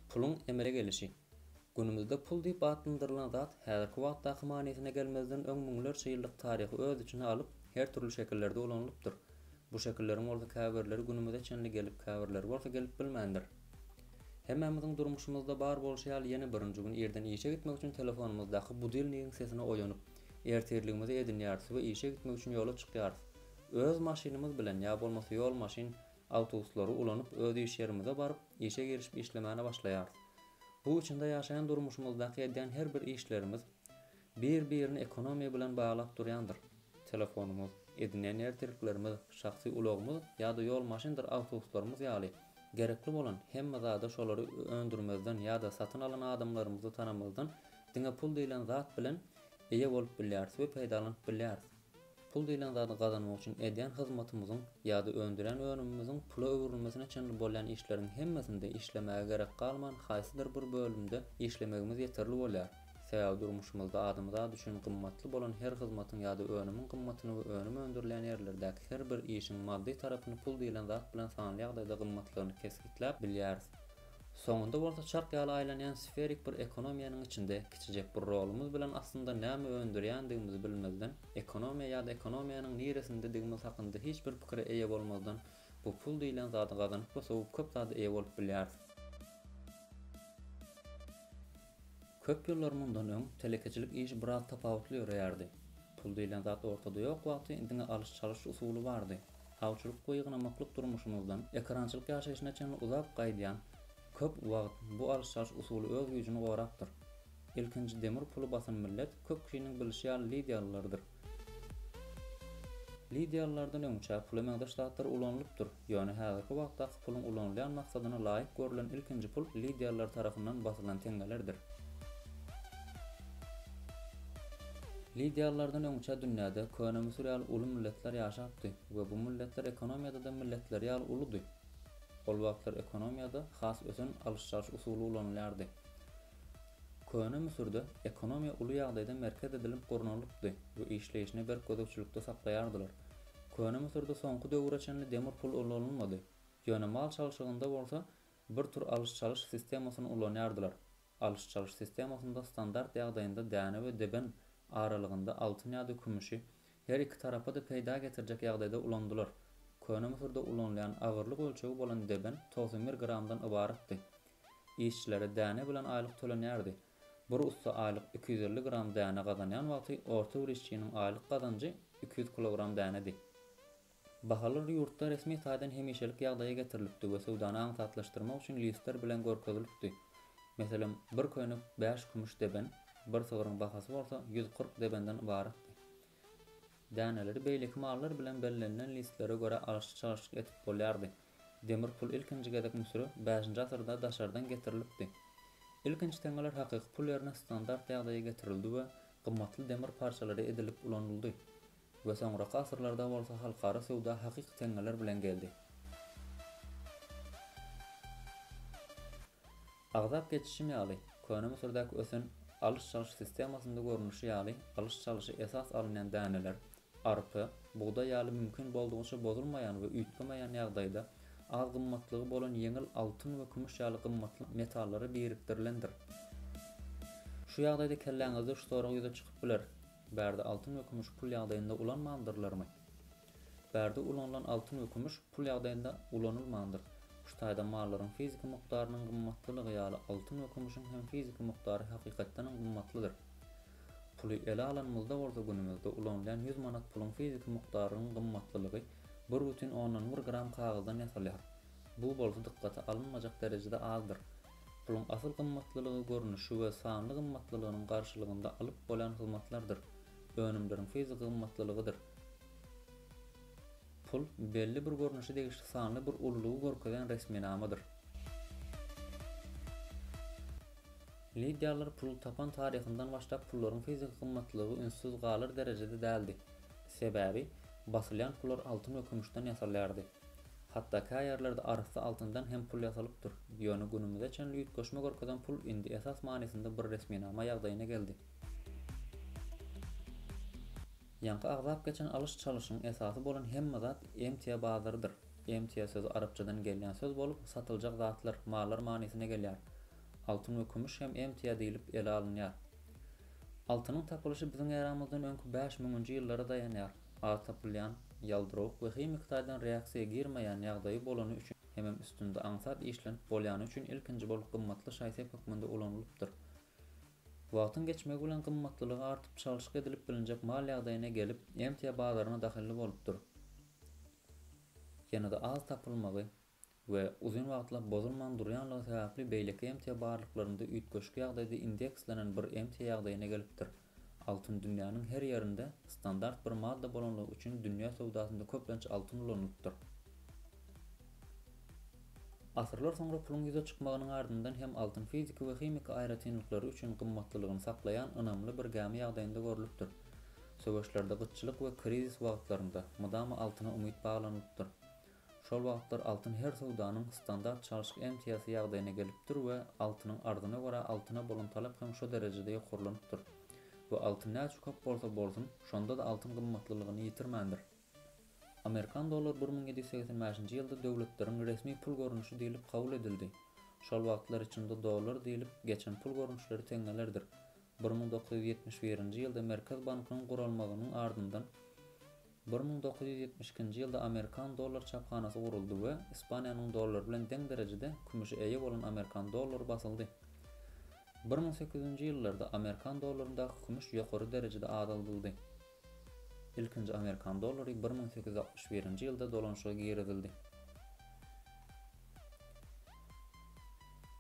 Puluň emele gelişi. Günümizde pul diýip atlandyrylan zat häzirki wagtdaky manysyna gelmezden öň müňlerçe ýyllyk taryhy öz içine alyp, her dürli şekillerde ulanylypdyr. Bu şekilleriň bolsa käbirleri günümize çenli gelip, käbirleri bolsa gelip bilmändir. Hemmämiziň durmuşymyzda bar bolşy ýaly ýene birinji gün irden işe gitmek üçin telefonymyzdaky budilnigiň sesine oýanyp, ertirligimizi edinýäris we işe gitmek üçin ýola çykýarys. Öz maşynymyz bilen ýa bolmasa ýol maşyn, awtobuslary ulanyp öz iş ýerimize baryp, işe girişip işlemäne başlaýarys. Bu içinde ýaşaýan durmuşymyzdaky edýän her bir işlerimiz bir birini ekonomiýa bilen baglap durýandyr. Telefonymyz, edinýän ertirliklerimiz, şahsy ulagymyz ýa-da ýol maşyndyr awtobuslarymyz ýaly gerekli bolan hemme zada şolary öndürmezden ýa-da satyn alan adamlarymyzy tanamazdan diňe pul diýlen zat bilen eýe bolup bilýäris we peýdalanyp bilýäris. Pul diýlen zady gazanmak üçin edýän hyzmatymyzyň ýa-da öndürýän önümimiziň pula öwrülmesine çenli bolýan işleriň hemmesinde işlemäge gerek galman haýsydyr bir bölümde işlemegimiz ýeterli bolýar. Sebäbi durmuşymyzda adamzat üçin gymmatly bolan her hyzmatyň ýa-da önümiň gymmatyny we önüm öndürilýän ýerlerdäki her bir işiň maddy tarapyny pul diýlen zat bilen sanly ýagdaýda gymmatlygyny kesgitläp bilýäris. Soňunda bolsa çark ýaly aýlanýan sferik bir ekonomiýanyň içinde kiçijek bir rolumyz bilen aslynda näme öndürýändigimizi bilmezden, ekonomiýa ýa-da ekonomiýanyň niresindedigimiz hakynda hiç bir pikire eýe bolmazdan bu pul diýlen zady gazanyp we sowup köp zada eýe bolup bilýäris. Köp ýyllar mundan öň telekeçilik işi biraz tapawutly ýöreýärdi. Pul diýlen zat ortada ýok wagty diňe alyş-çalyş usuly bardy. Awçylyk we ýygnamaklyk durmuşymyzdan ekerançylyk ýaşaýşyna çenli uzap gaýdýan köp wagt bu alyş-çalyş usuly öz güýjüni gorapdyr. Ilkinji demir puly basan millet köp kişiniň bilişi ýaly lidiýalylardyr. Lydia ýyllardan öňçä pula meňzeş zatlar ulanylypdyr, ýöne häzirki wagtdaky puluň ulanylýan maksadyna laýyk görülen ilkinji pul lydialylar tarapyndan basylan teňňelerdir. Lydialylardan öňçä dünýäde Köne Müsür ýaly uly milletler ýaşapdy we bu milletler ekonomiýada-da milletleri ýaly uludy. Ol wagtlar ekonomiýada has ösen alyş-çalyş usuly ulanylýardy. Köne Müsürde ekonomiýa uly ýagdaýda merkez edilip gurnalypdy we işleýşini berk gözegçilikde saklaýardylar. Köne Müsürde soňky döwüre çenli demir pul ulanylmady, ýöne mal çalşygynda bolsa bir tur alyş-çalyş sistemasyny ulanýardylar. Alyş-çalyş sistemasynda standart ýagdaýynda däne we deben aralygynda altyn ýa-da kümüşi her iki tarapa-da peýda getirjek ýagdaýda ulandylar. Köne Müsürde ulanylýan agyrlyk ölçegi bolan deben togsan bir gramdan ybaratdy. Işçilere däne bilen aýlyk tölenýärdi. Bir ussa aýlyk iki ýüz elli gram däne gazanýan wagty orta bir işçiniň aýlyk gazanjy iki ýüz kilogram dänedi. Bahalar ýurtda resmi taýdan hemişelik ýagdaýa getirilipdi we söwdany aňsatlaşdyrmak üçin listler bilen görkezilipdi. Meselem, bir köýnek bäş kümüş deben, bir sygryň bahasy bolsa ýüz kyrk debenden ybaratdy. Däneleri beýleki mallar bilen bellenilen listlere görä alyşyp-çalyşyk edip bolýardy. Demir pul ilkinji gezek Müsüre bäşinji asyrda daşardan getirilipdi. Ilkinji teňňeler hakyky pul ýerine standart ýagdaýa getirildi we gymmatly demir parçalary edilip ulanyldy we soňraky asyrlarda bolsa halkara söwda hakyky teňňeler bilen geldi. Agzap geçişim ýaly, Köne Müsürdäki ösen alyş-çalyş sistemasynda görnüşi ýaly alyş-çalyşa esas alynýan däneler, arpa, bugdaý ýaly mümkin boldugyça bozulmaýan we üýtgemeýän ýagdaýda az gymmatlygy bolan ýeňil altyn we kümüş ýaly gymmatly metallary birikdirilendir. Şu ýagdaýda kelläňizde şu sorag ýüze çykyp biler, Bärde altyn we kümüş pul ýagdaýynda ulanmandyrlarmy? Bärde ulanylan altyn we kümüş pul ýagdaýynda ulanylmandyr. Şu taýdan mallaryň fiziki mukdarynyň gymmatlylygy ýaly altyn we kümüşiň hem fiziki mukdary hakykatdanam gymmatlydyr. Puly ele alanymyzda bolsa günümizde ulanylýan ýüz manat puluň fiziki mukdarynyň gymmatlylygy bir butin ondan bir gram kagyzdan ýasalýar. Bu bolsa dykgata alynmajak derejede azdyr. Puluň asyl gymmatlylygy görnüşi we sanly gymmatlylygynyň garşylygynda alyp bolýan hyzmatlardyr. Önümleriň fiziki gymmatlylygydyr. Pul, belli bir görnüşi degişli sanly bir ululygy görkezýän resminamadyr. Lidiýalylar puly tapan taryhyndan başlap pullaryň fiziki gymmatlygy ünssüz galar derejede däldi. Sebäbi, basylýan pullar altyn we kümüşden ýasalýardy. Hatda kä ýerlerde arassa altyndan hem pul ýasalypdyr. Ýöne günümize çenli üýtgeşme görkezen pul indi esas manysynda bir resminama ýagdaýyna geldi. Ýaňky agzap geçen alyş-çalyşyň esasy bolan hemme zat emtia bazarydyr. Emtia sözi arapçadan gelýän söz bolup, satyljak zatlar, mallar manysyna gelýär. Altyn we kümüş hem emtia diýlip ele alynýar. Altynyň tapylyşy biziň eramyzdan öňki bäş müňünji ýyllara daýanýar. Az tapylýan, ýaldyrawuk we himiki taýdan reaksiýa girmeýän ýagdaýy bolany üçin hemem üstünde aňsat işlenip bolýany üçin ilkinji bolup gymmatly şaý-sep hökmünde ulanylypdyr. Wagtyň geçmegi bilen gymmatlylygy artyp çalşyk edilip bilinjek mal ýagdaýyna gelip, emtia bazaryna dahylly bolupdyr. Ýene-de az tapylmagy we uzyn wagtlap bozulman durýanlygy sebäpli beýleki emtia barlyklarynda üýtgeşik ýagdaýda indekslenen bir emtia ýagdaýyna gelipdir. Altyn dünýäniň her ýerinde standart bir madda bolanlygy üçin dünýä söwdasynda köplenç altyn ulanylypdyr. Asyrlar soňra puluň ýüze çykmagynyň ardyndan hem altyn fiziki we himiki aýratynlyklary üçin gymmatlylygyny saklaýan ynamly bir gämi ýagdaýynda görlüpdir. Söweşlerde, gytçylyk we krizis wagtlarynda mydama altyna umyt baglanylypdyr. Şol wagtlar altyn her söwdanyň standart çalşyk emtiýasy ýagdaýyna gelipdir we altynyň arzyna görä altyna bolan talap hem şo derejede ýokarlanypdyr. We altyn näçe köp bolsa bolsun, şonda-da altyn gymmatlylygyny ýitirmändir. Amerikan dollary bir müň ýedi ýüz segsen bäşinji ýylda döwletleriň resmi pul görnüşi diýlip kabul edildi. Şol wagtlar içinde dollar diýlip geçen pul görnüşleri teňňelerdir. Bir müň dokuz ýüz ýetmiş birinji ýylda Merkez bankynyň guralmagynyň ardyndan bir müň dokuz ýüz ýetmiş ikinji ýylda Amerikan dollar çaphanasy guruldy we Ispaniýanyň dollary bilen deň derejede kümüşe eýe bolan Amerikan dollary basyldy. Bir müň sekiz ýüz nji ýyllarda Amerikan dollaryndaky kümüş ýokary derejede azaldyldy. Ilkinji amerikan dollary bir müň sekiz ýüz altmyş birinji ýylda dolanyşyga girizildi.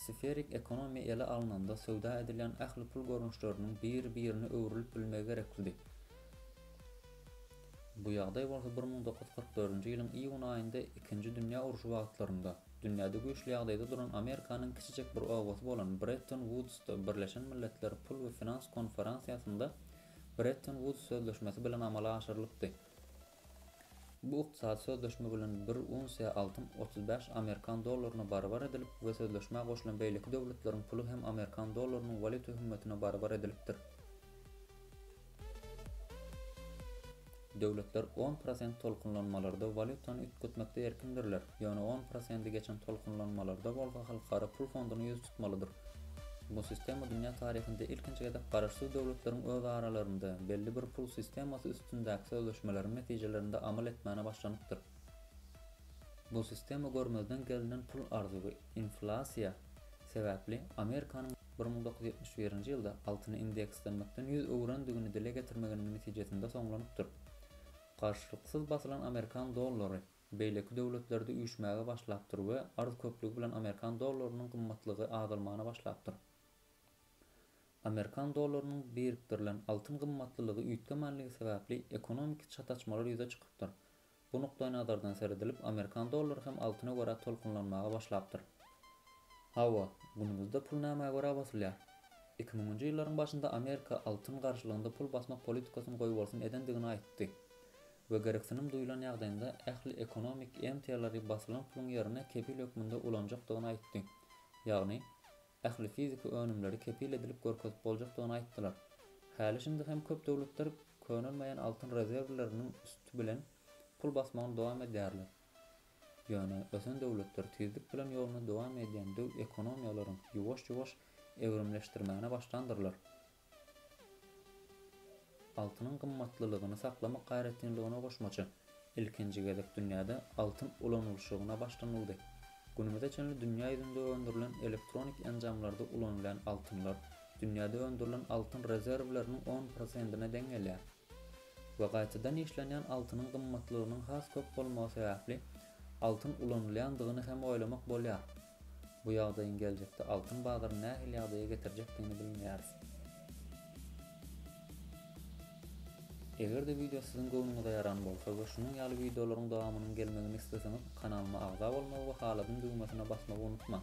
Sferik ekonomiýa ele alnanda söwda edilýän ähli pul görnüşleriniň biri-birine öwrülip bilmegi gerekdi. Bu ýagdaý bolsa bir müň dokuz ýüz kyrk dördünji ýylyň iýun aýynda ikinji dünýä urşy wagtlarynda, dünýäde güýçli ýagdaýda duran Amerikanyň kiçijek bir obasy bolan Bretton-Wudsda Birleşen Milletler pul we finans konferansiýasynda Bretton Wuds sözleşmesi bilen amala aşyrylypdy. Bu ykdysady sözleşme bilen bir unsiýa altyn otuz bäş amerikan dollaryna barabar edilip we sözleşmä goşulan beýleki döwletleriň puly hem amerikan dollarynyň walýuta hümmetine barabar edilipdir. Döwletler on prosent tolkunlanmalarda walýutany üýtgetmekde erkindirler, ýöne on prosendi geçen tolkunlanmalarda bolsa Halkara pul fonduna ýüz tutmalydyr. Bu sistema dünýä taryhynda ilkinji gezek garaşsyz döwletleriň öz aralarynda belli bir pul sistemasy üstündäki sözleşmeleriň netijelerinde amal etmäne başlanypdyr. Bu sistema görmezden gelinen pul arzuwy, inflasiýa, sebäpli Amerikanyň. bir müň dokuz ýüz ýetmiş birinji ýylda altyny indekslenmekden ýüz öwürendigini dile getirmeginiň netijesinde soňlanypdyr. Garşylyksyz basylan amerikan dollary beýleki döwletlerde üýşmäge başlapdyr we arz köplügi bilen amerikan dollarynyň gymmatlygy azalmana başlapdyr. Amerikan dollarynyň birikdirilen altyn gymmatlylygy üýtgemänligi sebäpli ekonomiki çataçmalar ýüze çykypdyr. Bu nukdaýnazardan seredilip, amerikan dollary hem altyna görä tolkunlanmaga başlapdyr. Hawa, günümizde pul nämä görä basylýar? Iki müňünji ýyllaryň başynda Amerika altyn garşylygynda pul basmak politikasyny goýbolsun edendigini aýtdy we gereksinim duýlan ýagdaýynda ähli ekonomik emtiýalary basylan puluň ýerine kepil hökmünde ulanjakdygyny aýtdy, ýagny, ähli fiziki önümleri kepil edilip görkezip boljakdygyny aýtdylar. Häli-şindi hem köp döwletler könelmeýän altyn rezerwleriniň üsti bilen pul basmagyny dowam edýärler. Ýöne ösen döwletler tizlik bilen ýoluny dowam edýän döw ekonomiýalaryň ýuwaş-ýuwaş ewrimleşdirmäne başlandyrlar. Altynyň gymmatlylygyny saklamak aýratynlygyna goşmaça, ilkinji gezek dünýäde altyn ulanylyşygyna başlanyldy. Günümize çenli dünýä ýüzünde öndürilen elektronik enjamlarda ulanylýan altynlar dünýäde öndürilen altyn rezerwleriniň on prosentine deň gelýär. we gaýtadan işlenýän altynyň gymmatlygynyň has köp bolmagy sebäpli altyn ulanylýandygyny hem oýlamak bolýar. Bu ýagdaýyň geljekde altyn bazaryny nähili ýagdaýa getirjekdigini bilmeýäris. Eger-de wideo siziň göwnüňize ýaran bolsa we şunuň ýaly wideolaryň dowamynyň gelmegini isleseňiz kanalyma agza bolmagy we haladym düwmesine basmagy unutmaň.